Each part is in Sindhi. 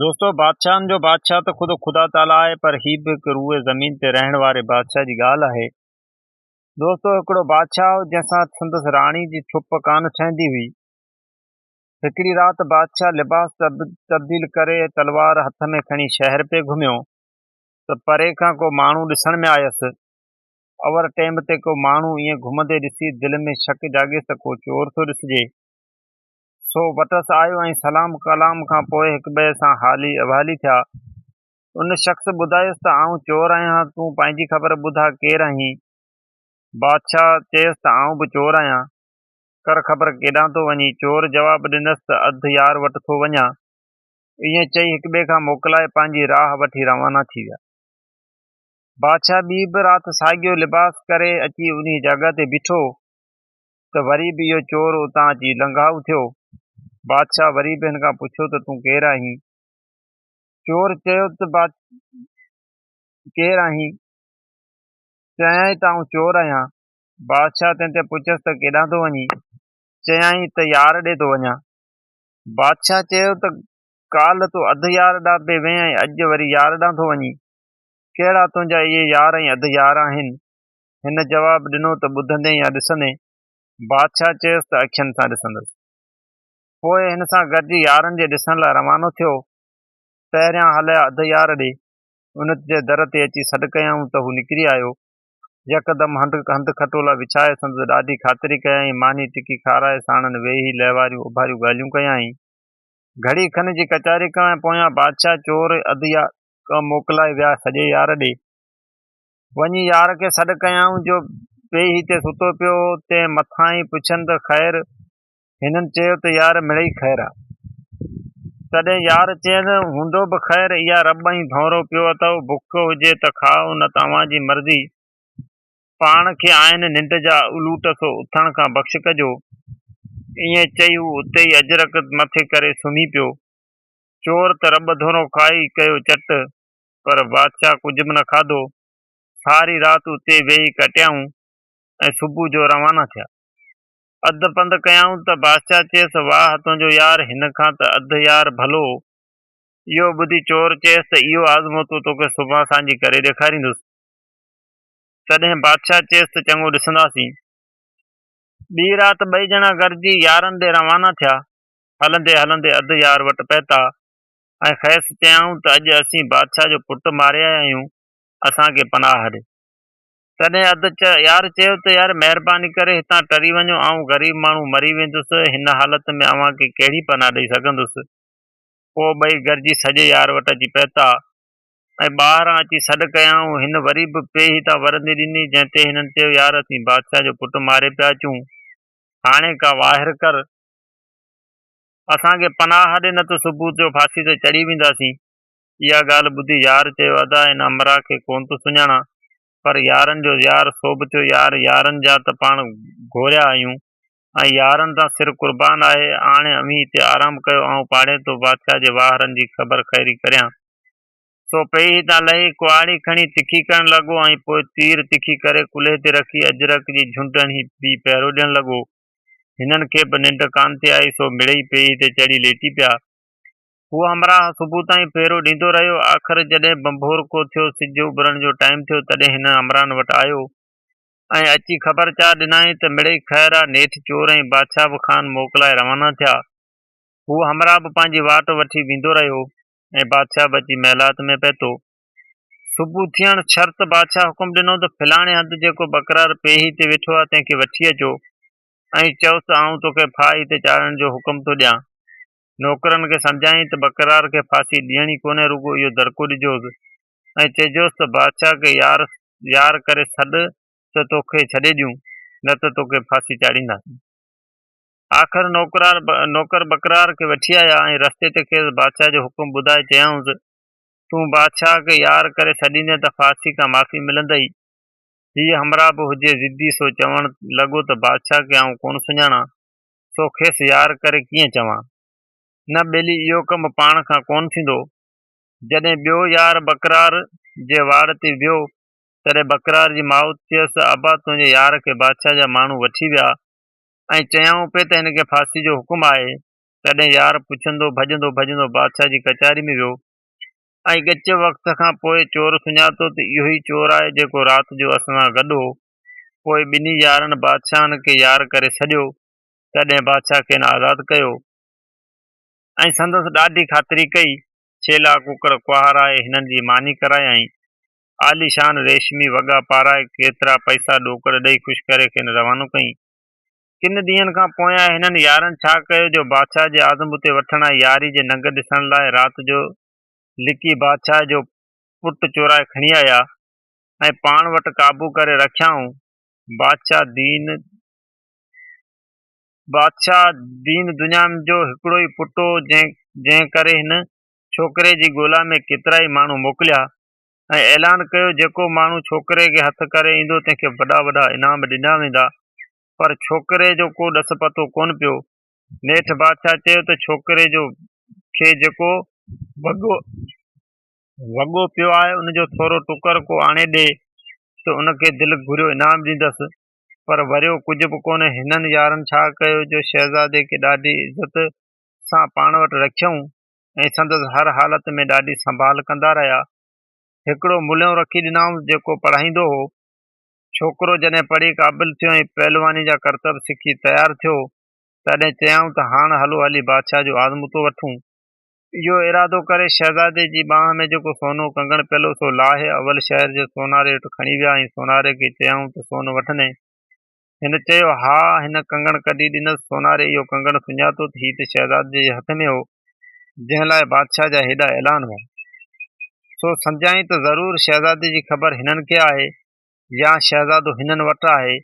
دوستو بادشاهن جو بادشاهه ته خود خدا تعالي آهي پر هي به هڪ روئي زمين تي رهڻ واري بادشاهه جي ڳالهه آهي. دوستو هڪڙو بادشاهه هو جنهن سان سندس راڻي جي ڇپ ڪانه ٺهندي هئي. هڪڙي رات بادشاهه لباس تبديل ڪري تلوار هٿ ۾ کڻي شهر پئي گهميو ته پري کان ڪو ماڻهو ڏسڻ ۾ آيس. اوور ٽيم تي ڪو ماڻهو ائين گهمندي ڏسي دل ۾ شڪ جاڳيس ته ڪو چور ٿو ڏسجي. سو وٽس آيو ۽ سلام ڪلام کان پوء هڪٻئي سان حالي احوالي ٿيا. ان شخص ٻڌايس ته آئون چور آهيان، تون پنهنجي خبر ٻڌاء ڪير آهين؟ بادشاهه چيس ته آئون به چور آهيان، ڪر خبر ڪيڏانهن ٿو وڃين؟ چور جواب ڏنس ته اڌ يار وٽ ٿو وڃان. ائين چئي هڪٻئي کان موڪلائي پنهنجي راهه وٺي روانا ٿي ويا. بادشاهه ٻي به رات ساڳيو لباس ڪري اچي انهيء جاڳهه تي بيٺو. ته وري به اهو چور اتان اچي لنگهائو ٿيو. بادشاهه وري به هن کان پڇيو ته تون ڪير آهين؟ چور چيو ته ڪير آهين؟ چيائين ته آئون چور آهيان. بادشاهه تنهن تي پڇيس ته ڪيڏانهن ٿو وڃين؟ چيائين ته يار ڏي ٿو وڃان. بادشاهه چيو ته ڪالهه تون اڌ يار ڏانهن پئي وئين ۽ اڄ وري يار ڏانهن ٿو وڃين. ڪهڙا تنهنجا اهي يار ۽ اڌ يار آهن؟ هن جواب ڏنو ته ٻڌندين يا ڏسندين؟ بادشاهه چيس ته اکين سان ڏسندس. پوء هن سان گڏجي يارن جي ڏسڻ لاء روانو ٿيو. پهريان هليا اڌ يار ڏي. ان جي در تي اچي سڏ ڪيائون ته هو نڪري آيو. يڪدم هنڌ کٽولا وڇائي سندس ڏاڍي خاطري ڪيائين، ماني ٽڪي کارائي ساڻن ويهي لهواريون اڀاريون ڳالهيون ڪيائين. گهڙي کن جي ڪچهري کان پويان بادشاهه چور اڌ يار موڪلائي ويا سڄي يار ڏي. وڃي يار کي سڏ ڪيائون جو پيئي هتي ستو پيو هو، تنهن مٿان ئي پڇن ته خير؟ هنن چيو ته يار مڙئي خير آ. تڏهن يار چين، هوندو به خير، اها رٻ ۽ ڀونرو پيو اٿئو، بک هجي ته کائو نه ته اوهان جي مرضي. پاڻ کي آهن ننڊ جا الوٽ سو اٿڻ کان بخش ڪجو. ائين چئي هو اتي ئي اجرڪ مٿي ڪري سمهي پيو. چور ته رٻ ڌونرو کائي ڪيو چٽ. پر بادشاهه ڪجهه به نه کاڌو. ساري رات اتي ويهي ڪٽيائون ۽ صبح جو روانا ٿيا. اڌ پنڌ ڪيائون ته بادشاهه چيس، واهه تنهنجو يار هن کان ته اڌ يار ڀلو هو. اهو ٻڌي چور چيس ته اهو آزموتو توکي سڀان سانجهي ڪري ڏيکاريندس. تڏهن بادشاهه چيس ته چڱو ڏسنداسين. ٻي رات ٻئي ڄڻا گڏجي يارن ڏي روانا ٿيا. هلندي هلندي اڌ يار وٽ پهتا. ۽ کيس چيائون ته اڄ اسين بادشاهه جو پٽ ماري آيا آهيون، اسان کي پناهه ڏي. تڏهن اد يار چيو ته يار مهرباني ڪري هتان ٽري وڃو، آئون غريب ماڻهو مري ويندس، هن حالت ۾ اوهان کي ڪهڙي پناهه ڏئي سگهندس. پوء ٻئي گڏجي سڄي يار وٽ اچي پهتا ۽ ٻاهران اچي سڏ ڪيائون. هن وري به پي هتان ورندي ڏني، جنهن تي هنن چيو يار اسين بادشاهه جو پٽ ماري پيا اچون، هاڻي ڪا واهر ڪر. اسان کي پناهه ڏي نه ته صبح جو ڦاسي تي چڙهي وينداسين. اها ڳالهه ٻڌي يار چيو ادا ان امرا کي ڪونه ٿو سڃاڻان پر يارن جو يار سو به ٿيو يار يارن جا ته پاڻ گهوريا آهيون ۽ يارن تان سر قربان آهي هاڻي اوهين هتي آرام ڪيو آئون پاڙيتو بادشاهه جي واهرن جي خبر خيري ڪريان سو پئي هتان لهي ڪهاڙي کڻي تکي ڪرڻ لڳو ۽ پوء تير تکي ڪري ڪلهي تي رکي اجرڪ جي جهنڊ هڻي بي پهرو ڏيڻ لڳو. هنن کي به ننڊ ڪانه ٿي آئي سو مڙئي پيئي تي چڙهي ليٽي پيا. هو همراهه صبح تائين پهرو ڏيندو رهيو. آخر جڏهن بنڀور ڪو ٿيو، سج اڀرڻ جو ٽائيم ٿيو، تڏهن هن همراهن وٽ آيو ۽ اچي خبر چار ڏنائين ته مڙئي خير آ، نيٺ چور ۽ بادشاهه به خان موڪلائي روانا ٿيا. هو همراهه به پنهنجي واٽ وٺي ويندو رهيو ۽ بادشاهه به اچي محلات ۾ پهتو. صبح ٿيڻ شرط بادشاهه حڪم ڏنو ته فلاڻي هنڌ جيڪو بڪرار پيهي تي ويٺو آهي تنهن کي وٺي اچو ۽ چئوس ته آئون توکي ڦاهي تي چاڙهڻ جو حڪم ٿو ڏيان نوڪرن کي سمجهائين ته بڪرار کي ڦاسي ڏيڻي ڪونهي رڳو اهو درڪو ڏجوس ۽ چئجوس ته بادشاهه کي يار يار ڪري سڏ ته توکي ڇڏي ڏيون نه ته توکي ڦاسي چاڙهينداسين آخر نوڪرار نوڪر بڪرار کي وٺي آيا ۽ رستي تي کيس بادشاهه جو حڪم ٻڌائي چيائونس تون بادشاهه کي يار ڪري سڏيندين ته فارسي کان معافي ملندئي. هيء همراهه به هجي ضدي سو چوڻ لڳو ته بادشاهه کي آئون ڪونه سڃاڻان سو کيس يار ڪري ڪيئن چوان. نه ٻيلي اهو ڪم پاڻ کان ڪونه ٿيندو. جڏهن ٻيو يار ٻڪرار جي واڙ تي ويو تڏهن ٻڪرار جي ماء چيس ابا تنهنجي يار کي بادشاهه جا ماڻهو وٺي ويا ۽ چيائون پئي ته هن کي ڦاسي جو حڪم آهي تڏهن يار پڇندو ڀڄندو ڀڄندو بادشاهه جي ڪچهري ۾ ويو ۽ ڳچ وقت کان پوء چور سڃاتو ته اهو ئي چور آهي جيڪو رات جو اسان سان گڏ هو. پوء ٻنهي يارن بادشاهن کي يار ڪري سڏيو، تڏهن بادشاهه کين آزاد ڪيو ۽ سندس ڏاڍي خاطري ڪئي، ڇيلا ڪڪڙ ڪهارائي هنن جي ماني ڪرايائين، عاليشان ريشمي وڳا پارائي ڪيترا پئسا ڏوڪڙ ڏئي خوش ڪري کين روانو ڪيائين. ڪن ڏينهن کان پويان هنن يارن ڇا ڪيو جو بادشاهه جي عازم اتي وٺڻ ۽ ياري جي ننگ ڏسڻ لاء رات جو لڪي بادشاهه جو پٽ چورائي کڻي آيا ۽ پاڻ وٽ قابو ڪري رکيائون. بادشاهه دين بادشاهه دين دڃام جو هڪڙو ئي پٽ هو، جنهن جنهن ڪري هن ڇوڪري جي ڳولا ۾ ڪيترائي ماڻهو موڪليا، ۽ اعلان ڪيو جيڪو ماڻهو ڇوڪري کي هٿ ڪري ايندو تنهن کي وڏا وڏا انعام ڏنا ويندا پر ڇوڪري جو ڪو ڏس پتو ڪونه پيو نيٺ بادشاهه چيو ته ڇوڪري جو کي جيڪو وڳو وڳو پيو آهي ان جو ٿورو ٽڪر ڪو آڻي ڏي ته ان کي دل گهريو انعام ڏيندس پر وريو ڪجهه به ڪونه هنن يارن ڇا ڪيو جو شهزادي کي ڏاڍي عزت سان پاڻ وٽ رکيائون ۽ سندس هر حالت ۾ ڏاڍي سنڀال ڪندا رهيا. هڪڙو ملهيون رکي ڏنائونس جيڪو پڙهائيندو هو. ڇوڪرو جڏهن پڙهي قابل ٿيو ۽ پهلواني جا ڪرتب سکي تيار ٿيو، تڏهن چيائون ته هاڻ هلو هلي بادشاهه جو آزموتو وٺون. اهو ارادو ڪري شهزادي جي ٻانهن ۾ جيڪو سونو ڪنگڻ پيل هو سو لاهي اول شهر جي سوناري وٽ کڻي ويا ۽ سوناري کي چيائون ته سون وٺندين هن چيو، ها، هن ڪنگڻ ڪڍي ڏنس. سوناري اهو ڪنگڻ سڃاتو ته هي ته شهزادي جي هٿ ۾ هو، جنهن لاء بادشاهه جا هيڏا اعلان هئا. سو سمجهيائين ته ضرور شهزادي جي خبر هنن کي آهي يا شهزادو هنن وٽ آهي.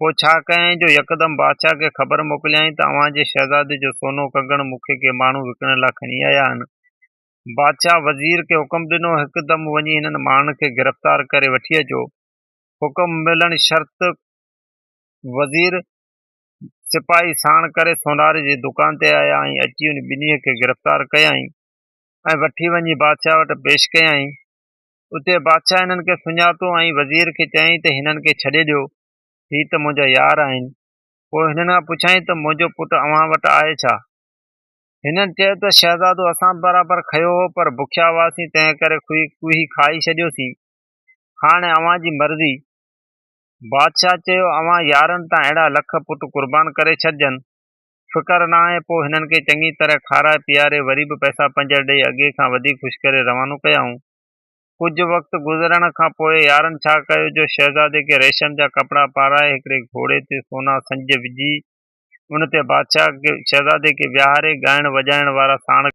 پوء ڇا ڪيائين جو يڪدم بادشاهه کي خبر موڪليائين ته اوهان جي شهزادي جو سونو ڪنگڻ مون کي ڪي ماڻهو وڪڻڻ لاء کڻي آيا آهن. بادشاهه وزير کي حڪم ڏنو، هڪدم وڃي هنن ماڻهن کي گرفتار ڪري وٺي اچو. حڪم ملڻ شرط وزير سپاهي ساڻ ڪري سوناري جي دڪان تي آيا ۽ اچي ان ٻنهي کي گرفتار ڪيائين ۽ وٺي وڃي بادشاهه وٽ پيش ڪيائين. اتي بادشاهه هنن کي سڃاتو ۽ وزير کي چيائين ته هنن کي ڇڏي ڏيو، هي ته منهنجا يار آهن. پوء هنن کان پڇيائين ته منهنجو پٽ اوهان وٽ آهي ڇا؟ هنن چيو ته شهزادو اسان به برابر کنيو هو پر بکيا هئاسين تنهن ڪري کوهي کائي ڇڏيوسين. هاڻ اوهان جي مرضي. بادشاهه چيو، اوهان يارهن تان اهڙا لک پٽ قربان ڪري ڇڏجن، فڪر ناهي. پوء هنن کي چڱي طرح کارائي پيئاري وري به پئسا پنجر ڏيئي اڳي کان وڌيڪ خوش ڪري روانو ڪيائون. ڪجهه وقت گذرڻ کان پوء يارن ڇا ڪيو جو شهزادي کي ريشم جا ڪپڙا پارائي هڪڙي گهوڙي تي سونا سنج وجهي ان تي بادشاهه کي شهزادي کي ويهاري ڳائڻ وڄائڻ وارا ساڻ ڪيا.